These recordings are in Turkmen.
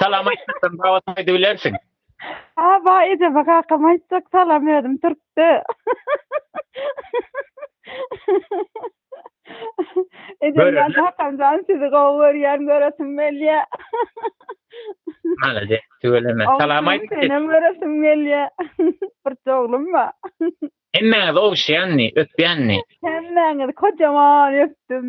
Salam aýtsaň gabat aýdybilersiň. Ha ba ejeme kakam aýtjak salam özüm türkde. Ejejan kakamjan sizi gowy görýän göresim gelýä. Malade tüweleme. Salam aýt. Senem göresim gelýä. Bir oglum ba. Hemmäňiz ogşýanny, öpýänni. Hemmäňiz kojaman öpdüm.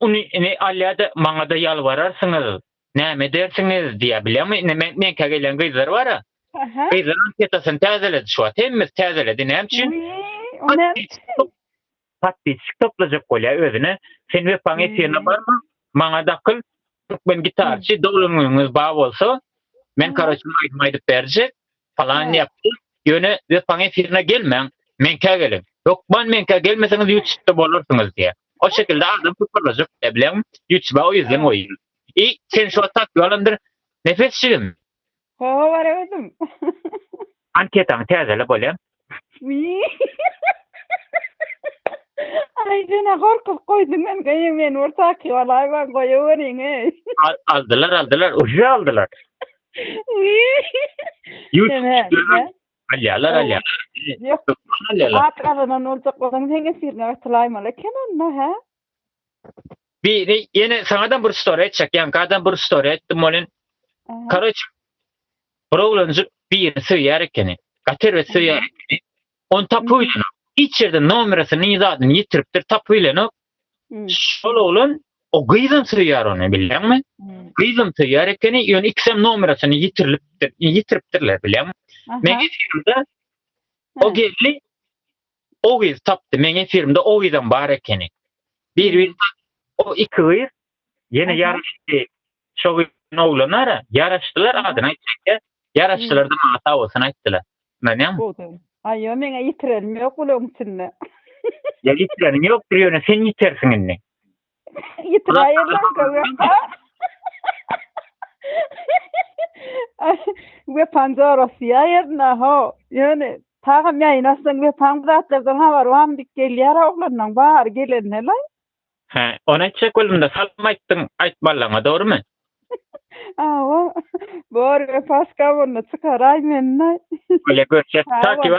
Uny ine alýada maňada ýalbararsyňyz näme edersiňiz diýýä bilýäňmi ine men meňkä gelýän gyzlar bara gyzlar anketasyny täzeledi şu wagt hemmesi täzeledi näme üçin podpisçik toplajak bolýa özüne sen wepaň efirine barma maňa dakyl türkmen gitarçy doglan günüňiz ba bolsa men karoçe aýdym aýdyp berjek Falanyny ýapdyr. Ýöne Wepaň efirine gelmäň. Meňkä geliň. Hökman meňkä gelmeseňiz Ýutubda bolarsyňyz diýýär. O şekilde adam toparlajak diýýär. Bileňmi? Ýutuba o ýüzden goýun. I, sen şu wagt tapyp alandyr. Nepes jigim. Hawa bar özüm. Anketaňy täzele bolýa. Aý jana gorkup goýduň men goýa men bir taky bolaý bar goýa beriň eý. Aldylar aldylar uje aldylar. Alýalar alýalar. Ýok. Alýalar. At gazanan boljak bolsaň sen efirine gatylaýmaly eken onda hä? Biri ýene saňa da bir story etjek, ýanka da bir story etdim bolin. Karoç. Bir oglanjyk birini söýýär ekeni. Gater we söýýär ekeni. Onu tapyp bilen. Hiç ýerde nomeryny, ýadyny ýitiripdir, tapyp bilen. Şol oglan o gyzyn söýýär ony, bilýäňmi? Gyzyn söýýär ekeni, ýöne ikisem nomeryny ýitirilipdir, ýitiripdirler, bilýäňmi? Men geçende o geldi. O gyz tapdy meň efirimde o gyzam bar ekeni bir birini tapdy o iki gyz yene yaraşdy şo gyzyň oglanara yaraşdylar adyny aýtjakda yaraşdylarda maňa sag bolsun aýtdylar ynanýaňmy aýo meňe yitirenim ýok bulaň içinde ýa yitireniň ýokdur ýöne sen ýitersiň indi. we panjara siýaýerna ho ýöne tagam ýaýynaşsaň we paň zatlardan habar wam diýip gelýär oglanlaň bary gelende la he ony etjek boldumda salym aýtdyň aýtmallaňa dogrymy awa bor we paska bolna çykaraý menne öle görşet takiwa